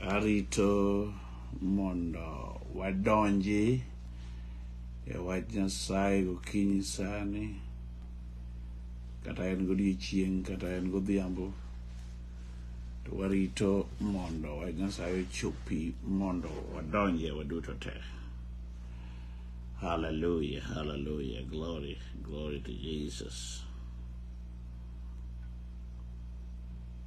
Arito mondo wadonji e wach Nyasaye gokinyi sani kata en godiechieng' kata en godhiambo to warito mondo wach Nyasaye ochopi mondo wadonje waduto te. Hallelujah, hallelujah, glory, glory to Jesus.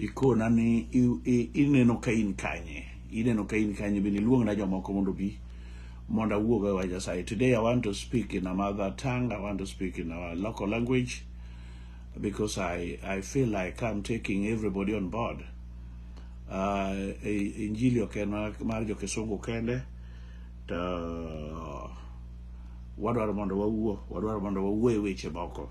ikona ni i- i- ineno ka in kanye ineno ka in kanye bende iluongna jomoko mondo bi mondo awuog e wach nyasaye today i want to speak in a mother tongue i want to speak in our local language because i i feel like i'm taking everybody on board uh, i- injili ok en mar- mar jokisungu kende to wadwaro mondo wawuo wadwaro mondo wawuo e weche moko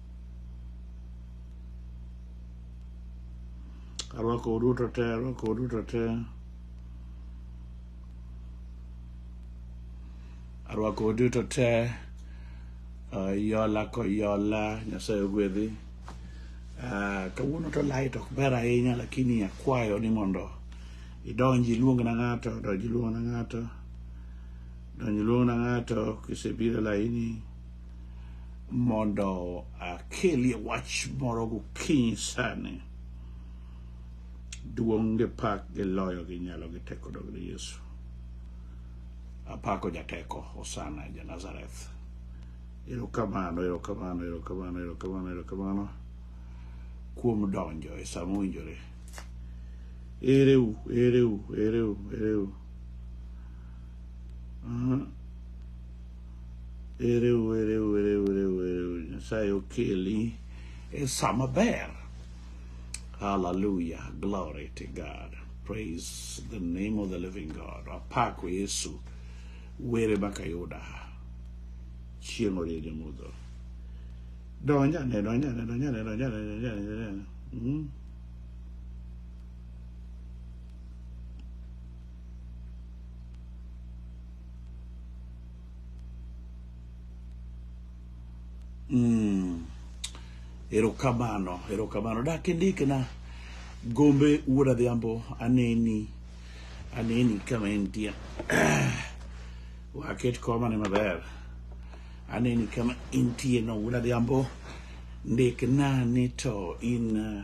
arwako uduto te arwako uduto te arwako uduto te uh, yola ko yola nyasaye ogwedhi uh, kawuono to light ok ber ahinya lakini akwayo ni mondo idonji iluong na ng'ato donji iluong na ng'ato donji iluong na ng'ato kisebiro laini mondo akelie wach moro gokinyi sani duong' gi pak gi loyo gi nyalo gi teko dog ni Yesu apako jateko Hosana ja Nazareth erokamano erokamano erokamano erokamano erokamano kuom donjo e sama owinjore ereu ereu ereu ereu uh -huh. Ereu, ereu, ereu, ereu, ereu. Nyasaye okeli e sama ber. Hallelujah. Glory to God. Praise the name of the living God. Apako Yesu. Were baka yuda. Chieng' orie jamudho. Donjane, donjane, donjane, donjane, donjane, donjane. Mm. Mm. Erokamano, erokamano. Dak indikna gombe wuod adhiambo aneni aneni kama entie. Waket koma ne maber. Aneni kama intie no wuod adhiambo. Ndikna ni to in uh,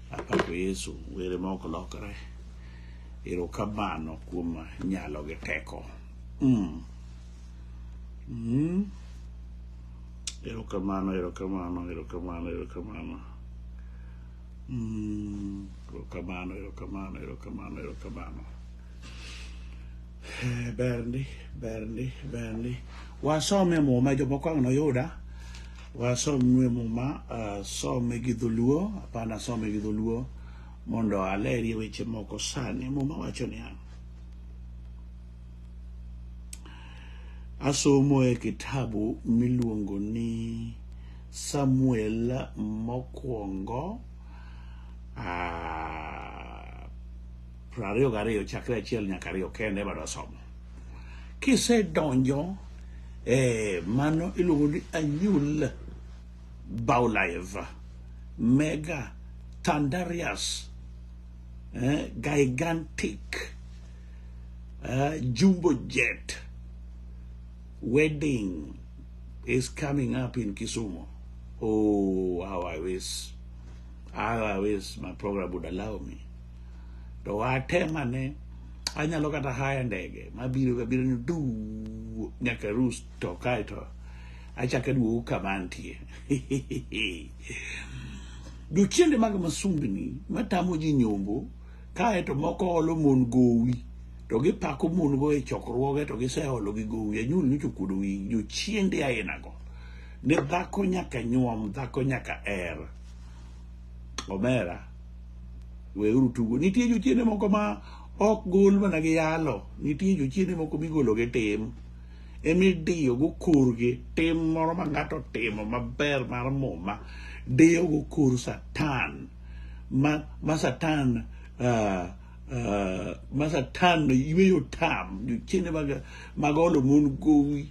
Apako Yesu, were ma ok lokre. Erokamano kuom nyalo gi teko. Mm. Mm. Erokamano, erokamano, erokamano, erokamano. Mm. Erokamano, erokamano, erokamano, erokamano. Eh, Berndi, Berndi, Berndi. Wasome muma jomoko ang' noyuda. Wasom nue muma uh, some gi dholuo apana some gi dholuo mondo aleri weche moko sani muma wacho niya asomo e kitabu miluongo ni samuel mokwongo uh, piero ariyo gariyo chakre achiel nyaka ariyo kende ema dasomo kisedonjo eh, mano iluongo ni anyul baulive mega tandarius eh, gigantic eh, jumbo jet wedding is coming up in kisumu oh how i wish how i wish my program would allow me to atema ne anyalo kata haya ndege mabiro gabiro ni du nyaka rus to kae to achako aduogo kama antie jochiende mag masumbni matamo ji nyombo kae to moko olo mon gowi to gipako mon go e chokruoge to giseolo gi gowi anyuol nyocho kuodo wi jochiende ainago ne dhako nyaka nyuom dhako nyaka er omera weuru tugo nitie jochiende moko ma ok gol mana gi yalo nitie jochiende moko migolo gi tim emidiyo go korgi tim moro ma ng'ato timo maber mar muma diyo go kor satan ma, ma satan uh, uh, ma satan yweyo tam jochiende mag, mag olo mon gowi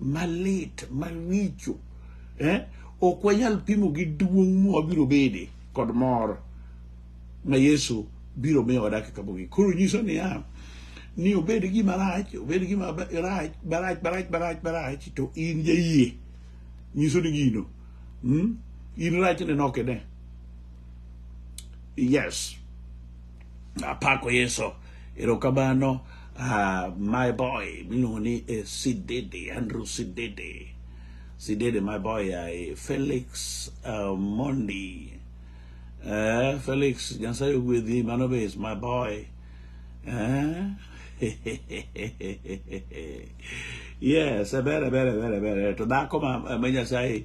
malit maricho eh? ok wanyal pimo gi duong' mwabiro bede kod mor ma Yesu biro miyo dakika mogik koro nyiso niya ni obed gima rach obed gima rach barach barach barach barach to in jayie nyiso ni gino hmm? in rachne nokene yes apako yeso erokamano uh, my boy miluongo ni eh, sidede andrew sidede sidede my boy uh, felix uh, mondi uh, felix nyasaye ogwedhi mano be is my boy uh, yes ebere ebere ebere ebere to dhako ma ma nyasaye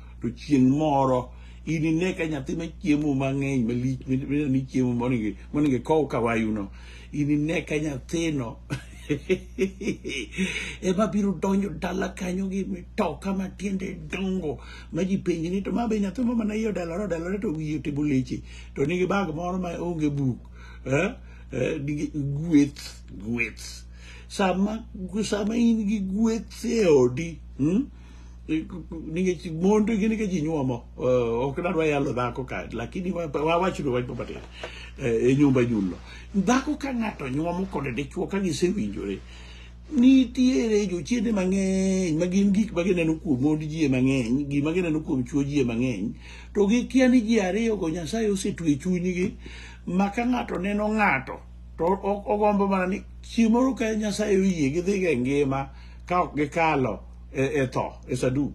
to chieng' moro inine ka nyathi ma chiemo mang'eny malich midendo ni chiemo monego monego ikow kawayuno inine ka nyathino ema biro donjo dala kanyo gi mitoka ma tiende dongo ma ji penji ni to ma be nyathi ma mana iye odalore odalore to wiye otimo leche to nigi bag moro ma onge buk eh? Eh, nigi gweth gweth sama sama in gi gweth e odi hmm? nikech mond gin ka ji nyuomo eh, ok dadwa yalo dhako ka lakini wawachno wach matin eh, e nyumba nyulo dhako ka ng'ato nyuomo kod dichuo ka gisewinjore nitiere jochiende mang'eny ma gin gik ma gineno kuom mond jie mang'eny gima gineno kuom chuo jie mang'eny to gikia ni ji ariyogo nyasaye osetwe chunygi ma ka ng'ato neno ng'ato to ogombo mana ni chieng' moro ka nyasaye oyie gidhiga e ngima ka ok gikalo e, e tho e saduk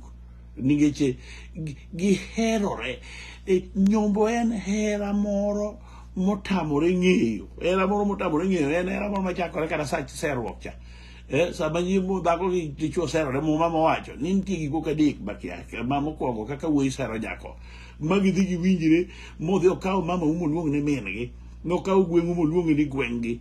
nikech e, gi- giherore E, nyombo en hera moro motamore ng'eyo hera moro motamore ng'eyo en hera moro machakore kata sa serruok cha Eh, sama nyimo dhako gi dichwo serore muma mowacho ni nitie gik moko adek makia ma mokwongo kaka wuoyi sero nyako ma gidhi giwinjre modhi okawo mama umo luong ni min-gi nokawo gweng'u moluong ni gweng'gi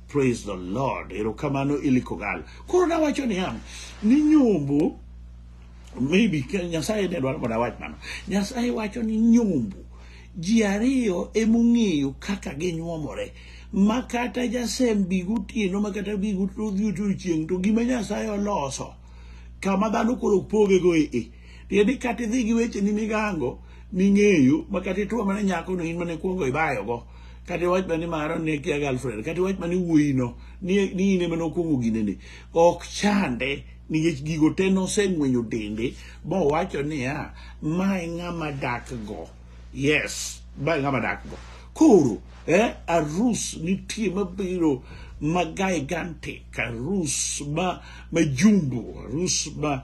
Praise the Lord. Erokamano Ilikogal. Koro nawacho ni ham ni nyombo maybe ke- Nyasaye ne dwaro mondo awach mano. Nyasaye wacho ni nyombo ji ariyo emong'eyo kaka ginyuomore ma kata jasem bi gotieno ma kata bi godhi odiochieng' to gima Nyasaye oloso kama dhano koro pogego e e tiende ni kata idhi gi wecheni migango ming'eyo ma kata ituo mana nyako no in mana ikuongo ibayogo kata iwach mana ni mara ne kia girlfriend kata iwach mana ni wuoyino ni ni in ema nokwongo ginene ok chande nikech gigo te noseng'wenyo dende mowacho niya ma e ng'ama dakgo yes ma e ng'ama dakgo koro eh, arus nitie mabiro ma gigantic arus ma majumbo arus ma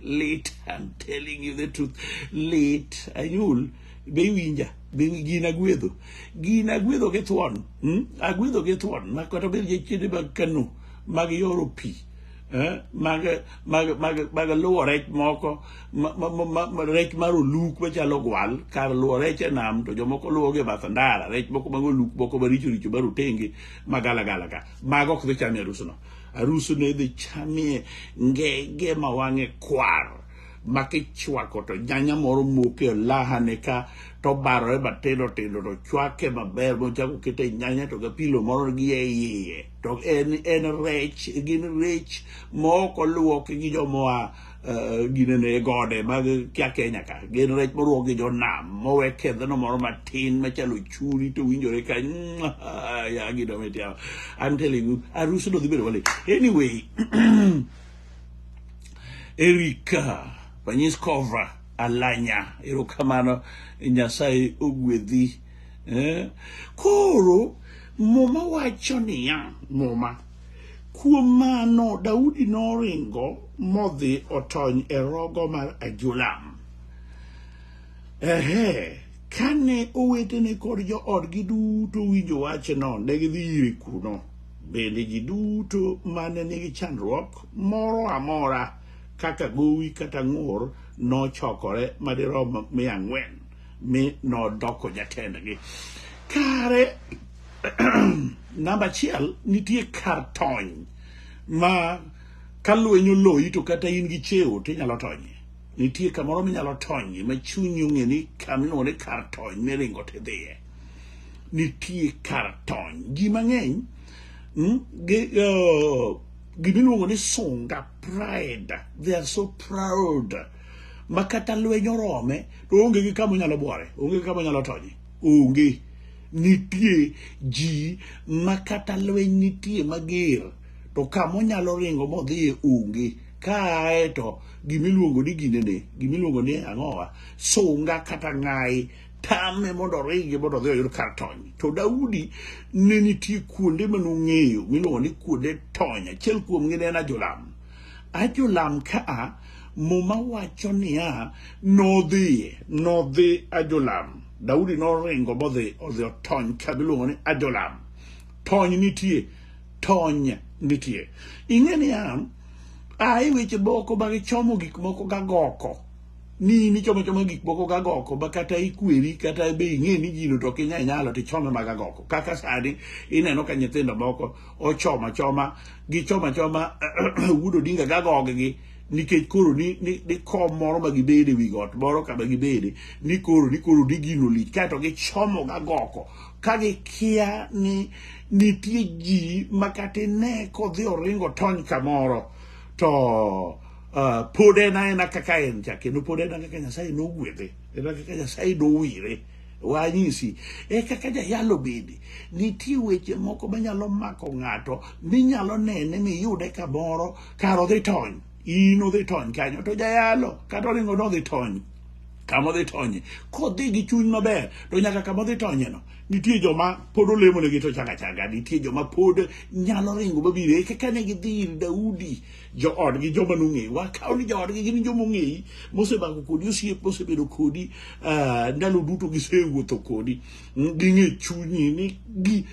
lit I'm telling you the truth lit anyul be iwinja be gin agwedho gin agwedho gi thuon hmm? agwedho gi thuon ma kata obed jachiende mag kano mag yoro pi eh? mag mag mag mag luwo rech moko ma- ma- ma- ma- ma- rech mar oluk machalo gwal kar luwo rech e nam to jomoko luwo gi e bath ndara rech moko mag oluk moko maricho richo mar otenge magalagala ka mago ok dhi chamo e arusno Arus ne idhi chamie ngege ma wang'e kwar ma kichwako to nyanya moro moke e lahane ka to barore matindo tindo to chwake maber mochako kete e nyanya to gapilo moro gi e iye to en en rech gin rech ma ok oluoki gi jomoa eh, ginene e gode mag kia Kenya ka gin rech moruok gi jonam mowe kedhno moro matin machalo churi to winjore ka ya gido metia I'm telling you arus do dhi bedo wale anyway Erika Panyis Kovra Alanya erokamano Nyasaye ogwedhi eh? koro muma wacho niya muma Kuom mano, Daudi noringo modhi otony e rogo mar Adulam. Ehe, kane owetene kod joodgi duto owinjo wachno, ne gidhi ire kuno. Bende ji duto mane nigi chandruok moro amora kaka gowi kata ng'ur nochokore madirom mia ang'wen. mi nodoko jatendgi kare namba achiel nitie kar tony ma ka lweny oloyi to kata in gi cheo to inyalo tonye nitie kamoro minyalo tonye ma chunyi ong'e ni kaminone kar tony miringo tidhiye nitie kar tony ji mang'eny mm, uh, gimiluongo ni sunga pride they are so proud ma kata lweny orome to onge gi kama onyalo bwore onge gi kama onyalo tonye onge nitie ji ma kata lweny nitie mager to kama onyalo ringo modhiye onge kae to gimiluongo ni ginene gimiluongo ni ang'owa sunga kata ng'ayi tame mondo oringi mondo odhi oyud kar tony to daudi ne nitie kuonde manong'eyo miluongo ni kuonde tony achiel kuomgi ne en ajolam Ajolam ka a, Muma wacho niya, nodhi, nodhi Ajolam. Daudi noringo modhi odhi otony ka miluongo ni Ajolam. Tony nitie, tony nitie. Ing'e niya, ae weche moko mag chomo gik moko gagoko ni nichomo choma gik moko gagoko ma kata ikweri kata be ing'e ni gino to ok inyalo nyalo to ichome magagoko kaka sani ineno ka nyithindo moko ochoma choma gi choma choma Wuod Odinga gagog gi nikech koro ni, ni, ni kom moro ma gibede wi got moro kama gibede ni koro ni koro ni gino lich kaeto gichomo gagoko ka gikia ni nitie ji ma kata ine kodhi oringo tony kamoro to uh, pod en aena kaka en cha kendo pod en kaka nyasaye nogwedhe en kaka nyasaye nowire Wanyisi e kaka jayalo bende nitie weche moko manyalo mako ng'ato minyalo nene miyude kamoro kar odhi tony in odhi tony kanyo to jayalo kata oringo nodhi tony kama odhi tonye kodhi gi chuny maber to nyaka kama odhi tonyeno nitie joma pod olemonegi to changa changa nitie joma pod nyalo ringo mabiro e kaka ne gidhi ir daudi joodgi joma nong'eyi wakawo ni joodgi gin joma ong'eyi mosemako kodi osiep mosebedo kodi ah, ndalo duto gisewuotho kodi Mm, ging'e chunyi ni gi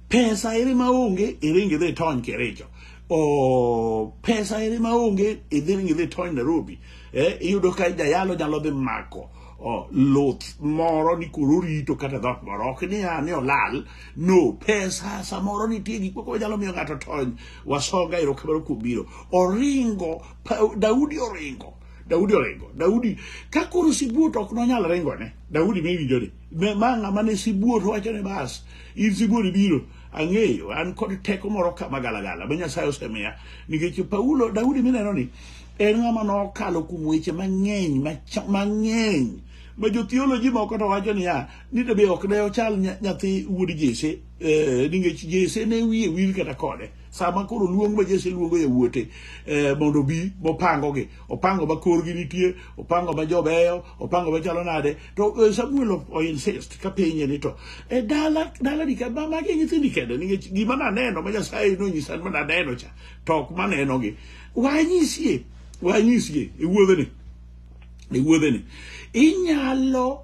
pesa ere ma onge iringi dhi tony kericho o pesa ere ma onge idhi ringi dhi tony nairobi eh, iyudo ka jayalo nyalo dhi mako oh, luth moro ni koro orito kata dhot moro ok ni a ni olal no pesa samoro nitie gik moko manyalo miyo ng'ato tony wasoga erokamano kuom biro oringo Pa- daudi oringo daudi oringo daudi ka koro sibuot ok nonyal ringone daudi miwinjoni Me- ma ng'ama ne sibuot wacho ni bas in sibuot ibiro ang'eyo an kod teko moro kama galagala ma nyasaye osemiya nikech paulo daudi mineno ni En ng'ama nokalo kuom weche mang'eny macha- mang'eny ma jothioloji moko to wacho niya ni to be ok ne ochal nya- nyathi wuod Jesse eh, nikech Jesse ne wiye wil kata kode sama koro luong ma Jesse luongo yawuote eh, mondo obi mopangogi opango ma korgi nitie opango ma jobeyo opango ma chalo nade to eh, Samuel o- o insist ka penye ni to e dala dala ni ka ma magi nyithindi kende nikech gima naneno ma Nyasaye nonyisa ma naneno cha to ok manenogi wanyisie wanyisie e wuodheni e wuodheni inyalo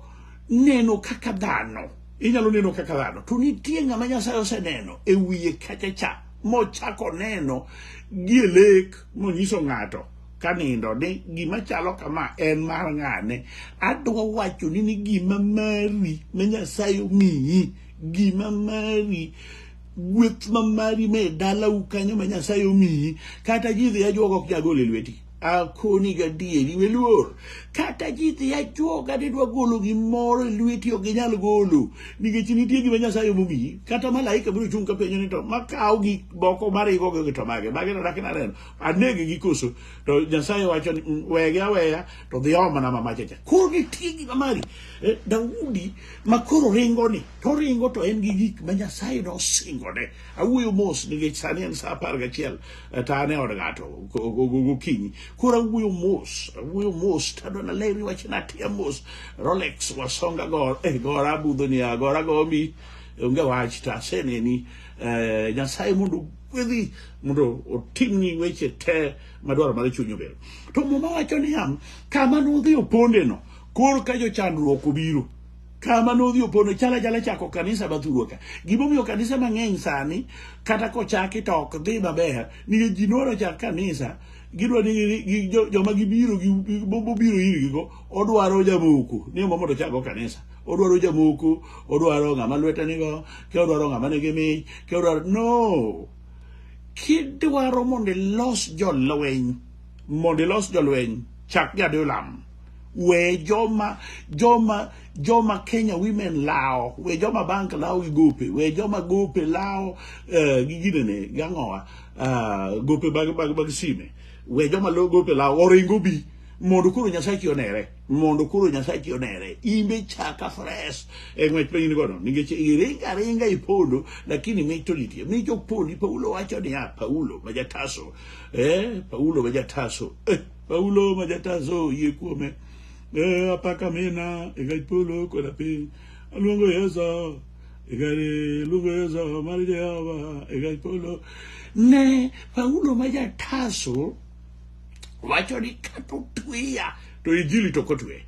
neno kaka dhano inyalo neno kaka dhano to nitie ng'ama nyasaye oseneno e wiye kacha cha mochako neno gie lek monyiso ng'ato kanindo ni gima chalo kama en mar ng'ane adwa wacho ni ni gima mari ma nyasaye omiyi gima mari gweth ma mari me dalau kanyo ma nyasaye omiyi kata ji dhi ajuoga ok jagol e lweti akoni gadieri weluor kata ji dhi ajuoga didwa golo gimoro e lweti ok ginyal golo nikech nitie gima nyasaye omomiyi kata malaika biro chung' ka penjo ni to makawo gik moko marigogo gi to mage mage to dakna neno anege gi koso to nyasaye wacho ni "Mm, wege aweya to dhi omna mamachacha koro nitie gima mari Eh, daudi ma koro ringoni toringo to en gi gik ma nyasaye nosingone awuoyo mos nikech sani en sa apar gachiel eh, to an e od ng'ato go- go- go- gokinyi koro awuoyo mos awuoyo mos tado naleri wach natia mos rolex wasonga gor eh, gora budho ni agora gomi onge wach to aseneni eh, nyasaye mondo gwedhi mondo otimni weche te madwaro mar chuny obero to muma wacho niya kama nodhi opondeno kor ka jochandruok obiro kama nodhi opono chala chala chako kanisa mathurwa ka gimomiyo kanisa mang'eny sani kata kochaki to ok dhi maber nikech ji nohero chak kanisa gidwa ni gi- gi- jo- joma gibiro gi- gi- bo- bobiro irgigo odwaro jamoko ni omo mondo chakgo kanisa odwaro jamoko odwaro ng'ama lwete nigo ke odwaro ng'ama nigi mich ke odwaro no kidwaro mondo ilos jolweny mondo ilos jolweny chak jadeo lamo we joma joma joma Kenya women lawo we joma bank lawo gi gope we joma gope lawo eh, gi ginene gang'owa ah, gope bag bag bag sime we joma lo gope lawo oringo bi mondo koro nyasachi onere mondo koro nyasachi onere imbe chaka fresh e ng'wech ma in godo nikech iringa aringa ipondo lakini mich to nitie mich ok pondi paulo wacho niya paulo ma jataso eh paulo ma jataso eh. Paulo ma jatazo yie kuome e apaka mina e gaj polo koda piny aluongo Yesu e gari luongo Yesu mar Jehova e gaj polo ne Paulo ma jatazo wacho ni kata otweya to injili to kotwe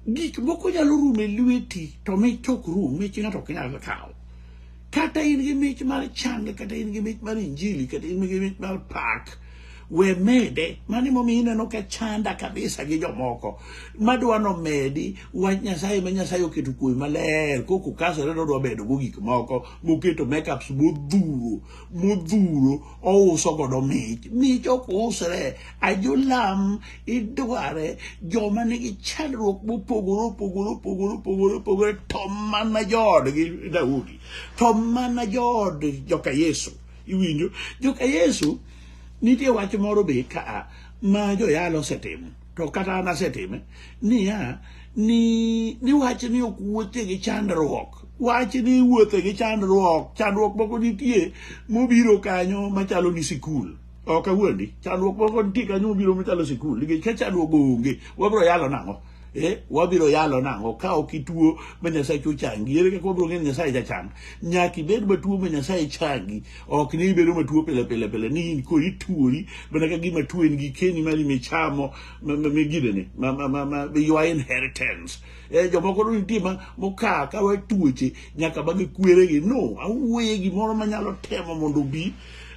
gik moko nyalo rumo e lweti to mich ok rum mich ng'ato ok nyal kawo kata in gi mich mar chang kata in gi mich mar injili kata in gi mich mar pak we mede mano emomiyo ineno ka chanda kabisa gi jomoko madwa nomedi wach nyasaye ma nyasaye oketo kuomi maler koko kasore to odwa medo go gik moko moketo makeups modhuro modhuro ouso godo mich mich ok usre ajolam idware joma nigi chandruok mopogore opogore opogore opogore opogore to mana joodgi daudi to mana jood joka yesu Iwinjo? Joka Yesu, nitie wach moro be ka ma joyalo osetimo, to kata an asetime, niya, ni, ni wach ni ok wuothie gi chandruok. Wach ni wuothe gi chandruok, chandruok moko nitie mobiro kanyo machalo ni sikul. Ok awuondi, chandruok moko nitie kanyo mobiro machalo sikul, nikech ka chandruok onge, wabiro yalo nang'o? eh, wabiro yalo nang'o ka ok ituo ma nyasaye cho changi ere kaka wabiro ng'eyo ni nyasaye jachang nyaka ibed matuo ma nyasaye changi ok ni ibedo matuo pile pile pile ni in koro ituori mana ka gima tuo en gikeni mari michamo ma- ma- migidene ma- ma- ma- ma- your inheritance Eh, jomoko to nitie ma mokaa ka we tuoche nyaka bagi kweregi no awuoye gimoro manyalo temo mondo obi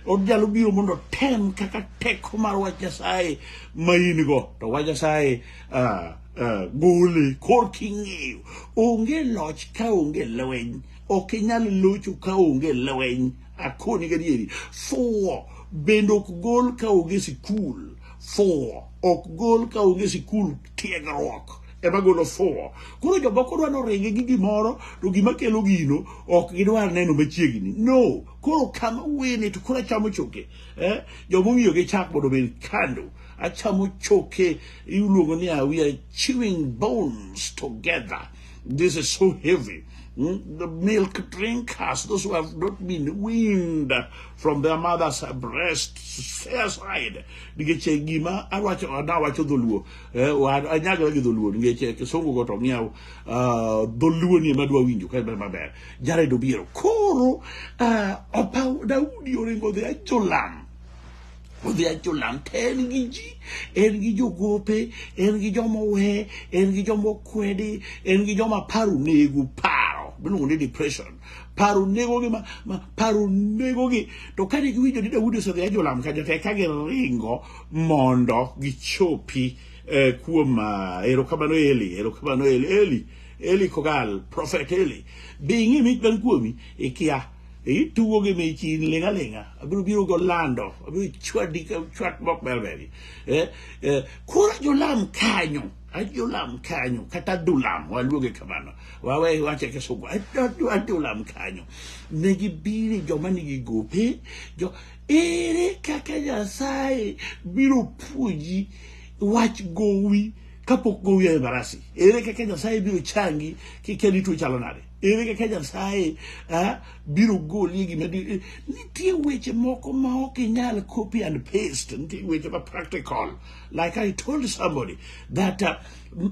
onyalo biro mondo otem kaka teko mar wach nyasaye ma in go to wach nyasaye Ah, ah, gole kor king'eyo onge loch ka onge lweny ok inyal locho ka onge lweny akoni gadieri fuwo bende ok gol ka onge sikul fuwo ok gol ka onge sikul tiegruok ema golo fuwo koro jomoko dwa noringe gi gimoro to gima kelo gino ok gidwar neno machiegni no koro kama wene to koro achamo choke eh? jomong'iyo gi chak mondo obed kando achamo choke iluongo ni ah, we are chewing bones together this is so heavy Mm, the milk drinkers those who have not been weaned from their mother's breast fair side nikech eh, gima awacho adawacho dholuo eh, wa- anyagla gi dholuo nikech eh, kisungu go to ng'iew ah, dholuo ni ema dwa winjo ka en maber jared obiero koro ah, opaw daudi oringo dhi ajolam odhi ajolam to en gi ji en gi jogope en gi joma owe en gi joma okwedi en gi joma paro nego paro miluongo ni depression paro negogi ma, ma paro negogi to kane giwinjo ni daudi osedhi ajolam kaja te ka giringo mondo gichopi eh, kuom uh, erokamano eli erokamano eli eli eli kogal prophet eli bi ing'i mich man kuomi ikia itugo gi mich in ling' aling'a abiro biro go lando abiro chwadi ka chwat mok berberi eh, eh, koro ajolam kanyo ajolam kanyo kata adulam waluonge kamano wawe wache kisungu Ado- adulam kanyo ne gibiri joma nigi gope jo ere kaka nyasaye biro puonji wach gowi kapok gowi e barasi ere kaka nyasaye biro changi kikeli tuo chalo nade ere kaka nyasaye ah, biro goli e gima di- nitie weche moko ma ok inyal copy and paste nitie weche ma practical like i told somebody that uh,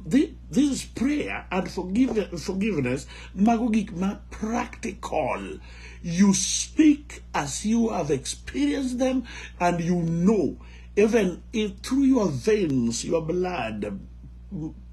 thi- this is prayer and forgive, forgiveness mago gik ma practical you speak as you have experienced them and you know even if through your veins your blood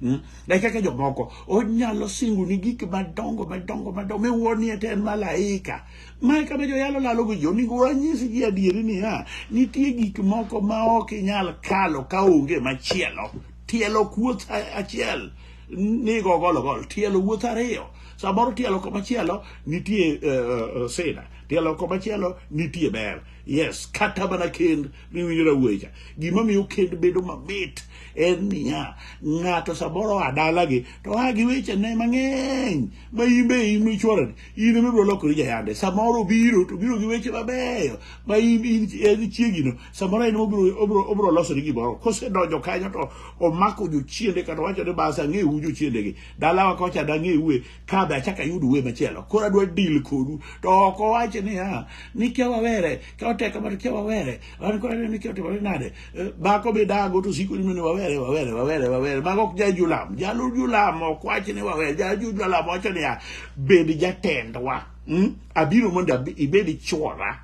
Hmm? e kaka jomoko onyalo singo ni gik madongo madongo madongo miwuonie te en malaika mae kama joyalo lalo gi jo onego wanyis gi adieri niya nitie gik moko ma ok inyal kalo ka onge machielo tielo kuoth achiel nigo gologol tielo wuoth ariyo samoro tielo komachielo nitie uh, uh, sida tielo komachielo nitie ber yes kata mana kend miwinjo na wuoyi cha gima miyo kend bedo mamit en niya ng'ato samoro oa dalagi to oa gi wechene mang'eny ma in be in michworani in ema ibiro lokori jayande samoro obiro to obiro gi weche mabeyo ma in in en chiegino samoro en obiro obiro obiro losoni gimoro kosedonjo kanyo to omako jochiende kata owacho ni bas ang'ewu jochiendegi dalawa kocha dang'ewu e kabe achaka yud uwe machielo koro adwa deal kodu to ok owache niya ni kia wawere ka oteka mar kia wawere an koro aneno ni kia otimore nade Eh, bako midago to siko nino ni wawere wawere wawere wawere mago ok jajulam jalu julam ok wache ni wawere jalu julam wacho niya bed jatendwa mm? abiro mondo abi- ibed chwora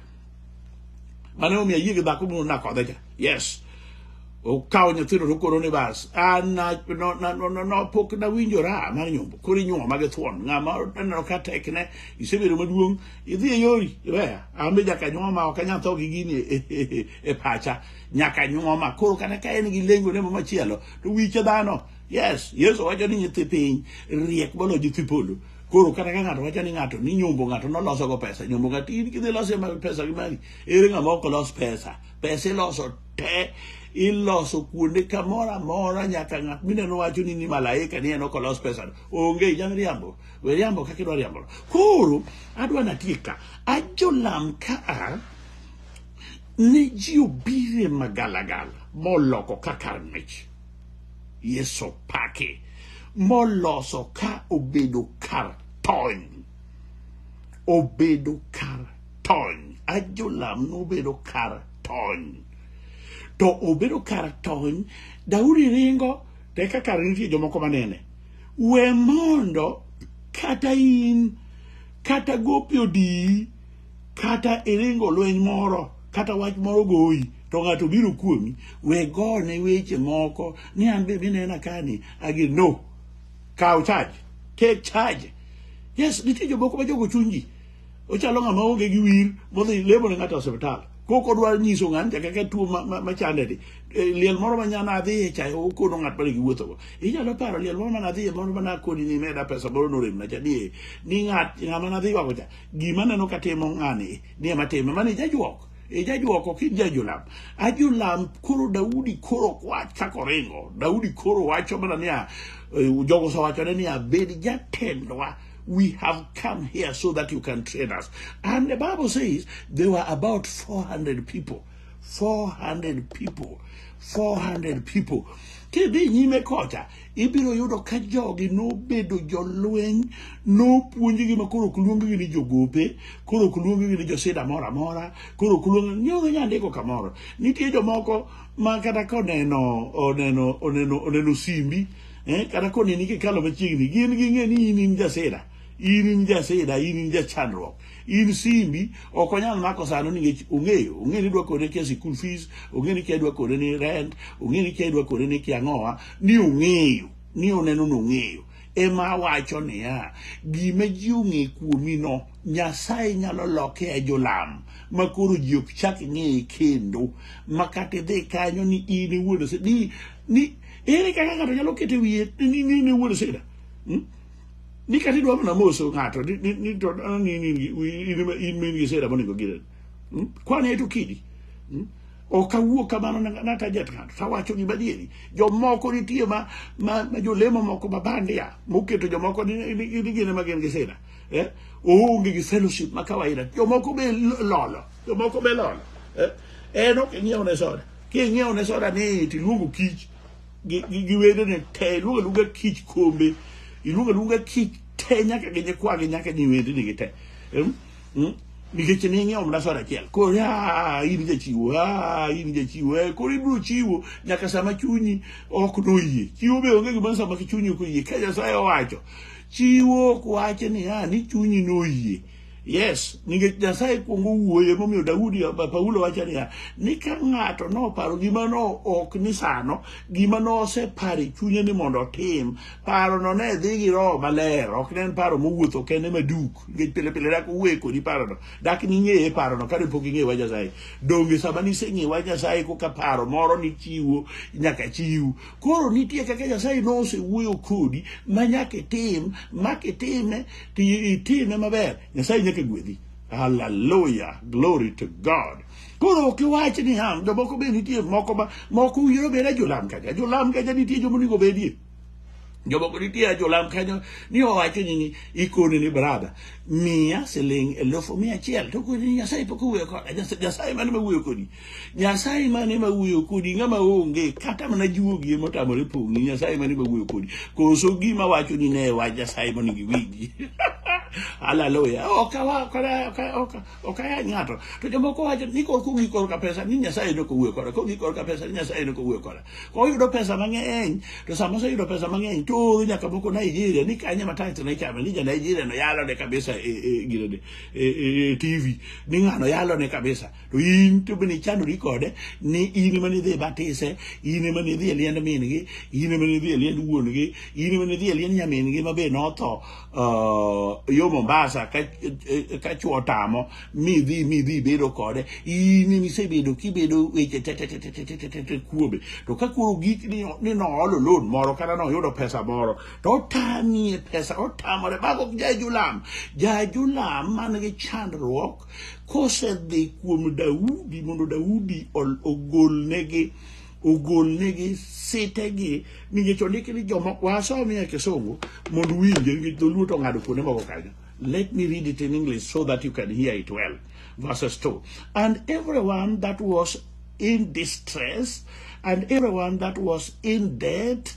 mane omiyo ayie gi dhako moro nakodhe cha yes okawo nyithindo to koro ni bas an na- no- na- no- no- no- pok nawinjora mar nyombo koro inyuoma gi thuon ng'ama aneno ka tekne isebedo maduong' idhi e yori iweya an be nyaka nyuoma ok anyal tho gi gini e- e- e pacha nyaka nyuoma koro kata ka en gi lengo ne machielo to wiche dhano yes yesu wacho ni nyithi piny riek moloyo nyithi polo koro kata ka ng'ato wacho ni ng'ato ni nyombo ng'ato noloso go pesa nyombo ng'ato in kidhi loso ma pesa gi mari ere ng'ama ok los pesa pesa iloso te iloso kuonde kamoro amora nyaka ng'at mineno wacho ni ni malaika ni en ok olos pesa onge inyalo riambo we riambo kaka idwa riambo koro adwa natiek ka ajolam ka a ne ji obire magalagala moloko ka kar mich Yesu paki moloso ka obedo kar tony obedo kar tony ajolam nobedo kar tony to obedo kar tony Daudi ringo te kaka nitie jomoko manene we mondo kata in kata gopi odiyi kata iringo lweny moro kata wach moro goyi to ng'ato biro kuomi we gone weche moko ni an be minena kani agi no kaw charge take charge yes nitie jomoko ma jogo chunji ochalo ng'ama onge gi wir modhi lemo ne ng'ato e osiptal kok odwa nyiso ng'ani cha kaka tuo machande ni e, liel moro ma nyana adhiye cha okono ng'at mane giwuothogo inyalo paro liel moro mana adhiye moro mana akoni ni meda pesa moro noremna cha ni ni ng'at ng'ama nadhi wago cha gima neno ka timo ng'ani ni ema time mani jajuok e jajuok ok jajulam ajulam koro daudi koro kwach kako ringo daudi koro wacho mana niya eh, jogo osewachone niya bed jatendwa we have come here so that you can train us and the bible says there were about 400 people 400 people 400 people kidhi nyime kocha ibiro yudo ka jogi nobedo jolweny nopuonjgi ma koro ok luonggi ni jogope koro ok luonggi ni josida moro amora koro ok luong nyoro nyandiko kamoro nitie jomoko ma kata koneno oneno oneno oneno simbi eh, kata koneni kikalo machiegni gin ging'e ni in in jasida in in jasida in in jachandruok in simbi ok onyal mako sano nikech ong'eyo ong'e ni dwa kode kia school fees ong'e ni kia dwa kode ni rent ong'e ni kia dwa kode ni kia ng'owa ni ong'eyo ni oneno ni ong'eyo ema awacho niya gima ji ong'e kuomi no nyasaye nyalo loke e jolam ma koro ji ok chak ng'eye kendo ma kata idhi kanyo ni in iwuon ose- ni ni ere kaka ng'ato nyalo keto wiye ni ni in iwuon oseda hmm? ni kata idwa mana moso ng'ato ni- ni- ni to ah, ni- ni- ni- in ema- in ma in gi sera monego gire Mm? kwana eto kidi Mm? ok awuo kamano na- natajat ng'ato tawacho gima adieri jomoko nitie ma, ma, ma jolemo moko ma bandia moketo jomoko ni ni- ni- ni gin ema gin gi sera eh? oonge gi fellowship ma kawaida jomoko be lo- lolo jomoko be lolo eh? en ok ing'iew ne soda king'iew ne soda ni tiluongo kich gi gi gi wedene te iluongo aluonga kich kombe iluongo aluonga kich te nyaka gi nyikwagi nyaka ni wedene gi te Em, mm, nikech ne ing'iewo mana soda achiel koro "Ah, in jachiwo ah, in jachiwo Eh, koro ibiro chiwo nyaka sama chunyi ok noyie chiwo be onge gimoro sama chunyi ok oyie ka nyasaye owacho chiwo ok wache ni ah, ni chunyi noyie Yes, nikech Nyasaye kuongo wuoyo emomiyo Daudi Paulo wacho niya ni ka ng'ato noparo gima no ok ni sano gima noseparo e chunye ni mondo otim paro no ne dhi gi roho maler ok ne en paro mowuotho kende maduk nikech pile pile dak uwe kodi paro no dak ning'eye paro no kane pok ing'eyo wach Nyasaye donge sama niseng'eyo wach Nyasaye koka paro moro nichiwo nyaka chiw koro nitie kaka Nyasaye nosewuoyo kodi ma nyaka itim ma kitime itine maber nyasaye nyaka gwedhi haleluya glory to god koro ok iwach ni ham jomoko be nitie moko ma moko uyiro obed ajolam kaja ajolam kaja nitie joma onego bedie jomoko nitie ajolam kanyo ni owacho ni ikone ni brada miya siling elufu mia achiel to koni nyasaye pok owuoyo koda nyasaye mane ma wuoyo kodi Nyasaye mane ma wuoyo kodi ng'ama onge kata mana juogi ema otamore pong'i Nyasaye mane ma wuoyo kodi koso gima wacho ni ne wach Nyasaye mondo giwinji Hallelujah. Oka wa oka oka oka oka ya ngato. To jomoko wacho ni kor kugi kor ka pesa ni Nyasaye no kowuoyo koda. Kugi kor ka pesa ni Nyasaye no kowuoyo koda. Ko yudo pesa mang'eny to sama oseyudo pesa mang'eny to ooro nyaka moko Nigeria ni kanye ma tax ne chame ni ja Nigeria no yalo ne kabisa e e gire e, e, e TV ni ng'ano yalo ne kabisa. to in to bende ichandori kode ni in ema nidhi batise in ema nidhi e liend min-gi in ema nidhi e liend wuon-gi in ema nidhi e liend nyamin-gi ma be notho uh, yo mombasa ka, eh, ka chwo tamo midhi midhi bedo kode in ema isebedo kibedo weche te- te- te- te- te- te- te- te- te kuome to ka koro gik ni ni noolo loan moro kata noyudo pesa moro to otamie pesa otamore mago jajulam jajulam man gi chandruok kosedhi kuom Daudi mondo Daudi ogolnegi ogolnegi sitegi nikech ondiki ni joma wasomi e kisungu mondo winje nikech dholuo to ng'ado kuonde moko kanyo let me read it in english so that you can hear it well verses 2 and everyone that was in distress and everyone that was in debt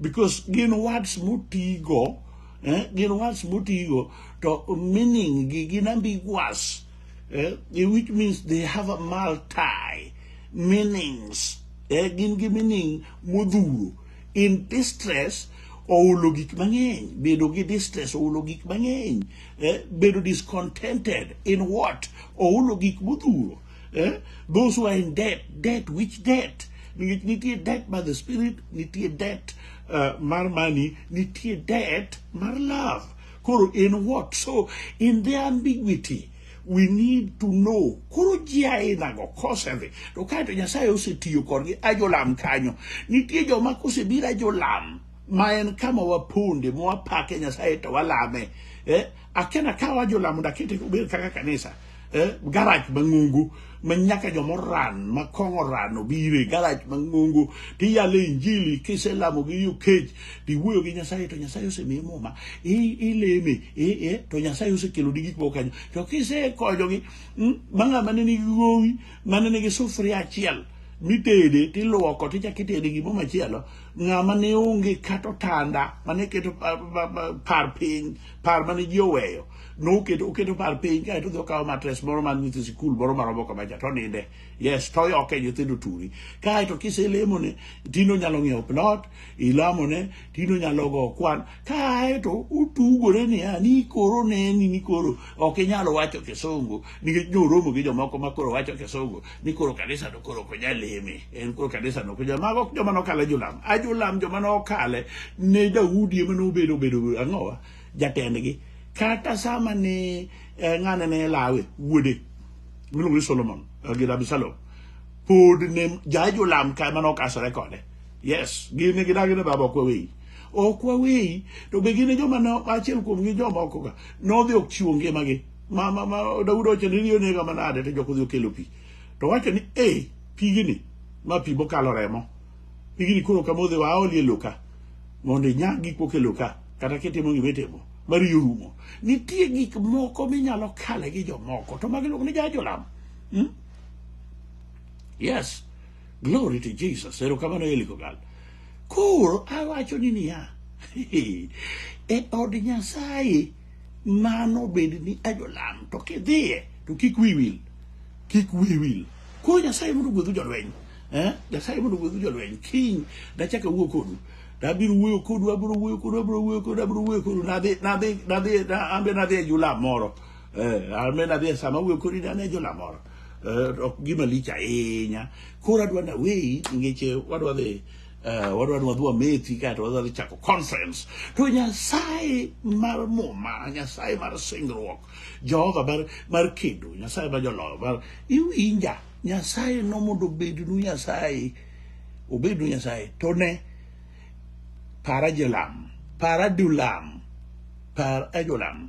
because gin words motigo eh, gin words motigo to meaning gi gin ambiguous eh, which means they have a multi meanings eh, gin gi meaning modhuro in distress ohulo gik mang'eny bedo gi distress ohulo gik mang'eny eh, bedo discontented in what ohulo gik modhuro eh? those who are in debt debt which debt Nit- nitie debt by the spirit nitie debt uh, mar money nitie debt mar love koro in what so in the ambiguity we need to know koro ji ainago kosedhi to kae to nyasaye osetiyo kodgi ajolam kanyo nitie joma kosebiro ajolam ma en kama waponde mwapake nyasaye to walame eh? Aken akawa jolamo dakete obed kaka kanisa eh, garaj mang'ongo ma nyaka joma oran ma kong oran obire garaj mang'ongo tiyale injili kiselamo gi yo kech tiwuoyo gi nyasaye to nyasaye osemiye muma i- ileme i- i- to nyasaye osekeloni gik moko kanyo to kisekonyogi mm, ma ng'ama ne nigi gowi mane nigi sufuria achiel mitede tiluoko tichak itede gimo machielo ng'ama ne onge kata otanda mane keto pa- pa- pa- par piny par mane ji oweyo noketo oketo par piny kae to dhi okawo matres moro mar nyithi sikul moro maromo kama cha to ninde yes to yoke nyithindo turi kae to kiselemone tino nyalo ng'iewo plot ilamone tino nyalo go kwan kae to utugore niya ni koro neni ni koro ok inyal wacho kisungu nikech noromo gi jomoko ma koro wacho kisungu ni koro kanisa to koro ok nyal leme en koro kanisa no kuja mago ok joma nokale jolam a jolam joma nokale ne Daudi ema nobedo bedo ang'owa jatendgi kata sama ne eh, ng'ane ne lawe wuode miluongo ni Solomon eh, gi Absalom pod ne ja jolam ka ema nokasore kode yes gin ne gidagi ne baba ok waweyi ok waweyi to be gin e joma no achiel kuomgi jomoko ka nodhi ok chiwo ngimagi ma ma ma Daudi owacho ni riyo nega manade to joko dhi okelo pi to wacho ni e pigini ma pi mokalo remo pigini koro kamodhi wa aolie loka mondo inyag gik mokelo ka kata kitimo gima itimo mar riyo rumo nitie gik moko minyalo kale gi jomoko to magi luongo ni jajolam hmm? yes glory to jesus erokamano elikogal koro awacho ni niya e od nyasaye mano bende ni ajolam to kidhiye to kik wi wil kik wi wil koro nyasaye mondo gwedhu jolweny eh? nyasaye mondo gwedhu jolweny kiny nachaka wuo kodu nabiro wuoyo kodu abiro wuoyo kodu abiro wuoyo kodu abiro wuoyo kodu nadhi nadhi nadhi ambe nadhi e jula moro eh, ambe nadhi e sama wuoyo kodu nadhi e jula moro eh, ok gima lich ahinya koro adwa naweyi nikech eh, wadwa dhi Uh, wadwa ni wadhi wamethi kae to wadhi chako conference to nyasaye mar muma nyasaye mar singruok jehova mar, mar kedo nyasaye ma joloyo mar iwinja nyasaye no mondo obednu nyasaye obednu nyasaye to ne para jolam para dulam par ajolam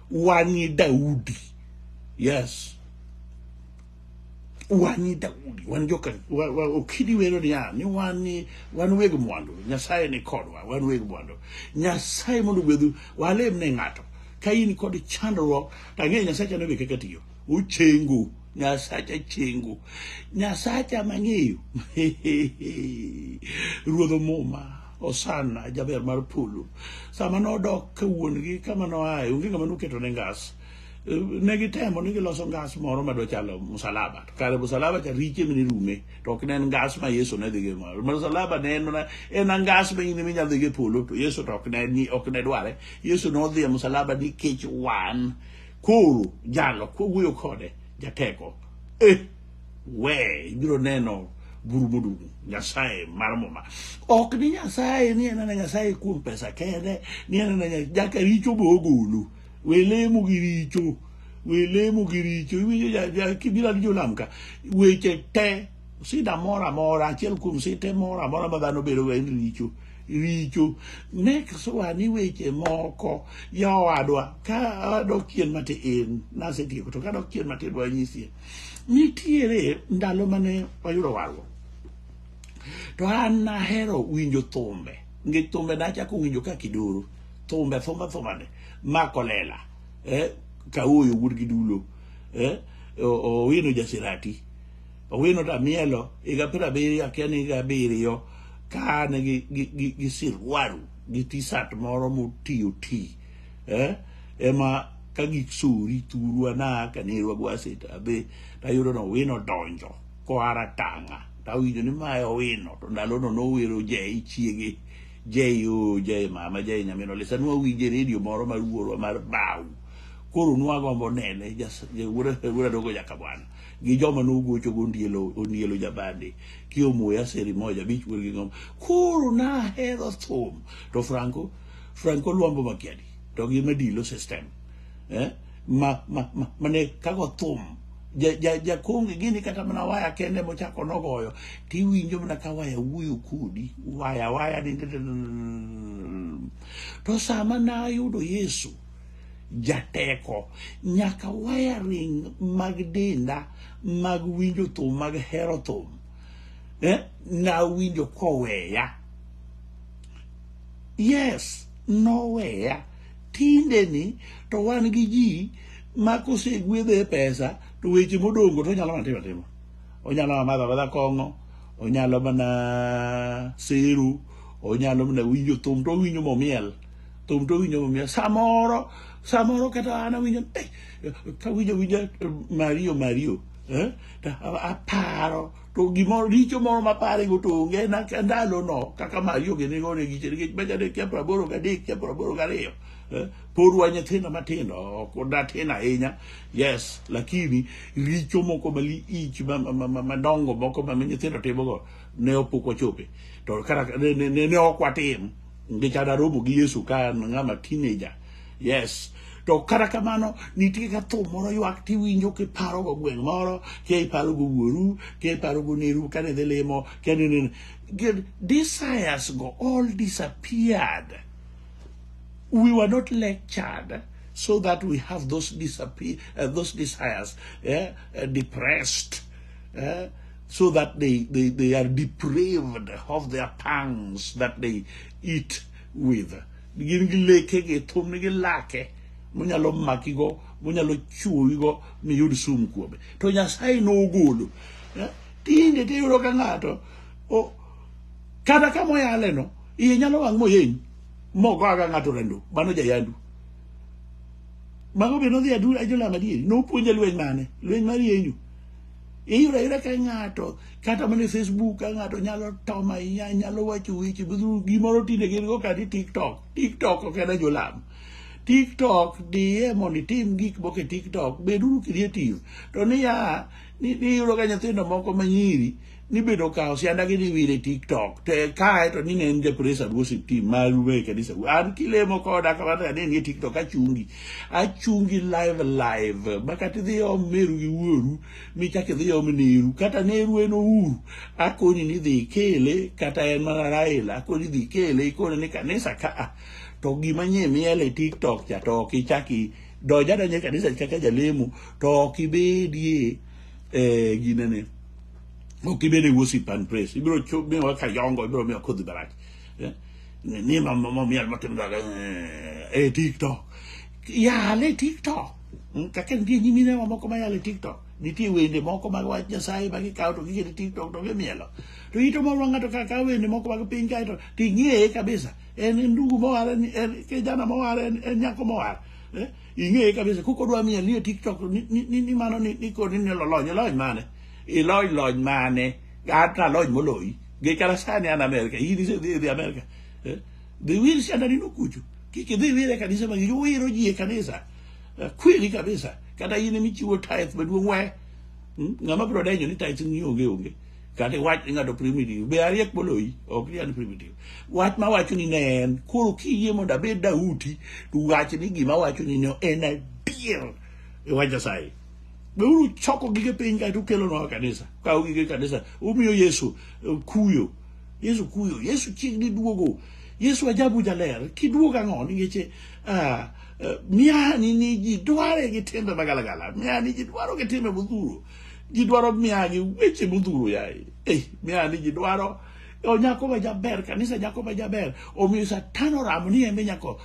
wang'i Daudi yes wang'i Daudi wan joka wa, wa, okidi wero niya ni wan ni wan weg mwandu Nyasaye ni kodwa wan weg mwandu Nyasaye mondo gwedhu walem ne ng'ato ka in kod chandruok to ang'eyo Nyasaye chano be kaka tiyo ochengo Nyasacha chengo Nyasacha mang'eyo ruodho muma Osana jaber mar polo sama nodok ka wuon-gi kama noaye onge ng'ama noketo ne ngas Eh, ne gitemo ni giloso ngas moro ma dochalo musalaba to kare musalaba cha riche mene rume to ok ne en ngas ma yesu ne dhigo e malo musalaba ne en mana en ngas ma in minyalo dhigo e polo to yesu to ok ne ni ok ne dware yesu nodhi e musalaba nikech wan koro jalo kowuoyo kode jateko eh we ibiro neno buru modung' nyasaye mar muma ok ni nyasaye ni en ana nyasaye kuom pesa kende ni en ana nya- jaka richo be ogolo we lemo gi richo we lemo gi richo iwinjo ja- ja- kibiro ni jolam ka weche te sida moro amora achiel kuom site moro amora ma dhano bedo en richo richo nek sowa ni weche moko yawadwa ka adok chien matin nasetieko to kadok chien matin wanyisie Nitiere ndalo mane wayudo warruok to an nahero winjo thumbe nikech thumbe nachako winjo ka kidoro thumbe thumbe thumbane makolela eh, kaoyo wuod gi dulo eh, owino jasirati owino tamielo higa piero abiriyo akia ni higa abiriyo ka an gi, gi, gi, gi sirwaru gi tisat moro motiyo ti eh ema ka gisuri thuru ana kanerwa gwaseta abe tayudo no wino donjo koara tanga tawinjo ni mae owino to ndalono nowero jei chiege jei o jei mama jei nyamino lisa nwawinje redio moro mar wuorwa mar bau koro nwagombo nene jas- ja- wuora wuora dogo jaka bwana gi joma nogocho go ondielo ondielo jabande kiomoya seri moja bich wuor gi ngom koro nahero thum to franco Frank Oluambo Makiadi to gi Madilo system eh? ma, ma, ma, mane kago thum jakonge ja, ja gini kata mana waya kende mochako nogoyo tiwinjo mana ka waya wuoyo kodi waya waya ni to sama nayudo yesu jateko nyaka wiring mag denda mag winjo thum mag hero thum eh? nawinjo koweya Yes, noweya. Tinde ni to wan gi ji ma kosegwedhe pesa to weche modongo to onyalo mana timo atima. Onyalo mana madho amadha kong'o, onyalo mana seru, onyalo mana winjo thum to owinjo momiel. Thum to owinjo momiel. Samoro, samoro kata an awinjo, eh, kawinjo awinja eh, Mario Mario, eh, to a- aparo to gimoro richo moro ma parego to onge na ka ndalono kaka mari onge ne gore giche nikech beja de kia praboro ga de kia praboro ga riyo Eh, pod wa nyithindo matindo ok odatin ahinya yes lakini richo moko malich ma- ma- ma- ma- madongo moko ma ma nyithindo timogo ne opok wachope to kata ne- ne ne- ne ok watim nikech adaromo gi yesu ka an ng'ama teenager yes to kata kamano nitie ka thum moro ywak tiwinjo kiparogo gweng' moro kia iparogo wuoru kia iparogo neru kane idhi limo kia nini Good. desires go all disappeared we were not lectured so that we have those disappear uh, those desires eh, uh, depressed eh, so that they, they they are depraved of their pangs that they eat with gin gi leke gi thumni gi lake monyalo maki go monyalo chuowi go miyud sum kuome to nyasaye nogolo eh, tinde tiyudo ka ng'ato kata kama oyale no iye nyalo wang' moyeny mogo aga ng'ato rendo mano jayandu mago be nodhi ajolam adieri nopuonje lweny mane lweny mar yenyu iyudo ayuda ka ng'ato kata mana e facebook ka ng'ato nyalo tom ahinya nyalo wacho weche gimoro tinde gin go kati tiktok tiktok ok en ajolam tiktok diye mondo itim gik moko e tiktok beduru creative to niya niyudo ka nyithindo moko manyiri nibedo kawo sianda gi niwire tiktok to kae to ni ne en ja praise and worship team maru e kanisa an kilemo koda kamano ni e tiktok achungi achungi live live makata idhi om meru gi wuoru michak idhi om neru kata neru en ouru akoni ni idhi ikele kata en mana raila akoni idhi ikele ikone ni kanisa kaa to gima nye miel e tiktok cha to ok ichaki donj adonja e kanisa kaka jalemo to ok ibedie eh, ginene ok ibed e worship and praise ibiro chu- miwa kayongo ibiro miwa kodhi barach ¿eh? Ni mamá, mamá, mi alma tembla, eh, eh, TikTok. Ya le TikTok. ¿eh? Ka ken di ni mi ne mamá como ya le TikTok. Ni ti wende moko mag wach Nyasaye ma gikawo to gikete TikTok to gimielo. To ito moro ng'ato ka kawo wende moko mag piny kae to to ing'eye kabisa. En en ndugu mowar, en en kijana mowar, en en nyako mowar. Eh? Ing'eye kabisa. Kuko dwa miel ni e TikTok ni ni ni- ni mano ni ni koni ni lolony, lolony mane? Ilony lony mane? Kata lony moloyi. Gay kala sani an America. He is the, the America. Eh? The wheel si andani nukuchu. Kiki the wheel kanisa mangi yo wiro jie kanisa. Eh, Kweli kabisa. Kata yine michiwo tithe maduong we. Hmm? Ngama bro denyo ni tithe ni onge onge. Kata wach ni ngado primitive. Be ariek boloi. Ok ni an primitive. Wach ma wacho ni ne en. Koro kiyie mondo abed Daudi. To wach ni gima wacho ni ne en adier. E wach Nyasaye. be uru choko gige piny kae to ukelo nwa kanisa kawo gige kanisa umiyo yesu eh, kuyo yesu kuyo yesu chiegni duogo yesu ajabu jaler kiduogo ang'o nikech eh, ah, eh, miani ni ji dware gi timbe magalagala miani ji dwaro gi timbe modhuro ji dwaro miani weche modhuro yaye eh, miani ji dwaro o nyako ma jaber kanisa nyako ma jaber omiyo satan oramo ni embe nyako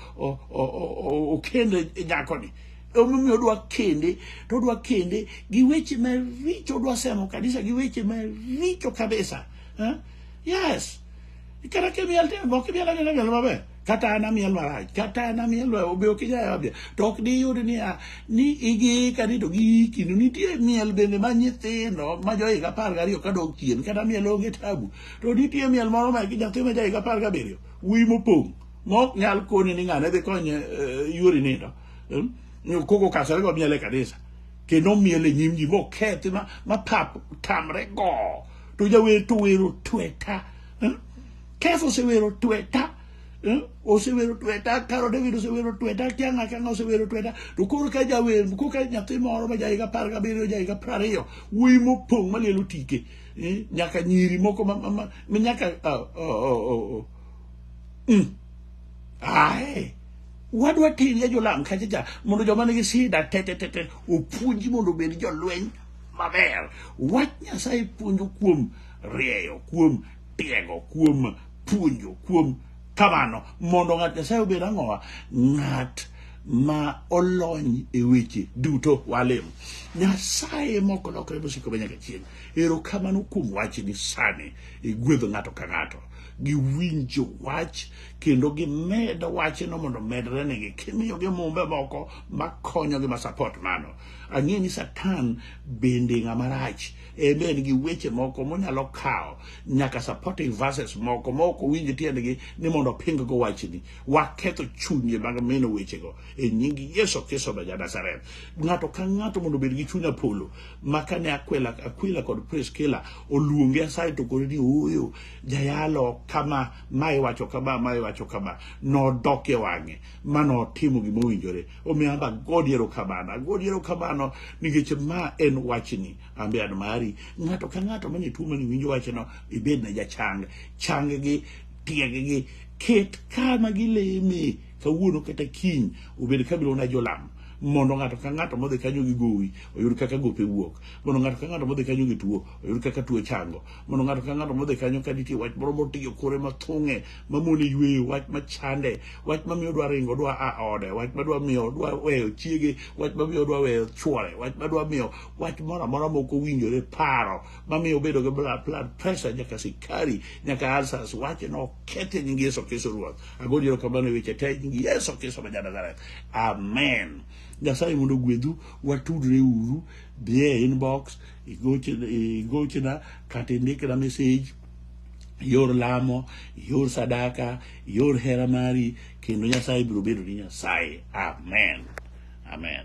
okende nyakoni omomiyo odwa kende to odwa kende gi weche maricho odwa semo kanisa gi weche maricho kabisa eh? yes kata kimiel te ok imiel anena miel maber kata an amiel marach kata an amiel obe ok ijayo abia to ok diyud niya ni igiika ni to giiki no nitie miel bende ma nyithindo ma johiga apar gariyo ka dok chien kata miel onge tabu to nitie miel moro ma nyathi ma jahiga apar gabiriyo wuyi mopong' mok nyal koni ni ng'ane dhi konye eh, yuori nindo hmm? ni okoko kasare go miele kanisa kendo miele nyim ji mokethi ma ma pap tamre go to jawer to wero tweta hmm? keso sewero tweta hmm? osewero tweta karo david osewero tweta kianga kianga osewero tweta to koro ka jawer ko ka nyathi moro ma jahiga apar gabiriyo jahiga piero ariyo wuoyi mopong' malielo tike eh, nyaka nyiri moko ma- ma- ma- ma nyaka ah, oh, oh, oh, oh. Mm. Aye. wadwa tirie jolam kachacha mondo joma nigi shida tetetete opuonji mondo obed jolweny maber wach nyasaye puonjo kuom rieyo kuom tiego kuom puonjo kuom kamano mondo ng'at nyasaye obed ang'owa ng'at ma olony e weche duto walem nyasaye moko lokre mosiko be nyaka chieng ero kamano kuom wachni sani igwedho ng'ato ka ng'ato giwinjo wach kendo gimed wachno mondo omedre negi kimiyogi mumbe moko makonyogi ma support mano ang'e ni satan bende ng'ama rach ebe en gi weche moko monyalo kawo nyaka supporting verses moko ma ok owinj tiendgi ni mondo oping go wachni waketho chunye mag mino wechego e nying yesu kristo ma janazareth ng'ato ka ng'ato mondo obed gi chuny apolo ma kane akwila akwila kod priskila oluonge asaye to koro ni ooyo jayalo kama ma iwacho kama ma iwacho kama nodok e wang'e ma notimo gima owinjore omiyo amba godi erokamano agodi erokamano nikech ma en wachni ambe an mari ng'ato ka ng'ato mane tuo mani winjo wachno ibed na jachang chang gi tieg gi ket kama gileme kawuono kata kiny obed kabilo na jolam mondo ng'ato ka ng'ato modhi kanyo gi gowi oyud kaka gope wuok mondo ng'ato ka ng'ato modhi kanyo gi tuo oyud kaka tuo chango mondo ng'ato ka ng'ato modhi kanyo ka nitie wach moro motiyo kore mathung'e mamone yweyo wach machande wach mamiyo dwa ringo dwa a ode wach madwa miyo dwa weyo chiege wach mamiyo dwa weyo chwore wach madwa miyo wach moro amora mok owinjore paro mamiyo obedo gi blood blood pressure nyaka sikari nyaka alsas wache no kete nyingi yeso kristo ruoth agoni ero kamano e weche te nyingi yeso kristo ma janazareth amen nyasaye mondo ogwedhu watudre uru dhie inbox igochona igochona kata indikna message ior lamo ior sadaka ior hera mari kendo nyasaye biro bedo ni nyasaye amen amen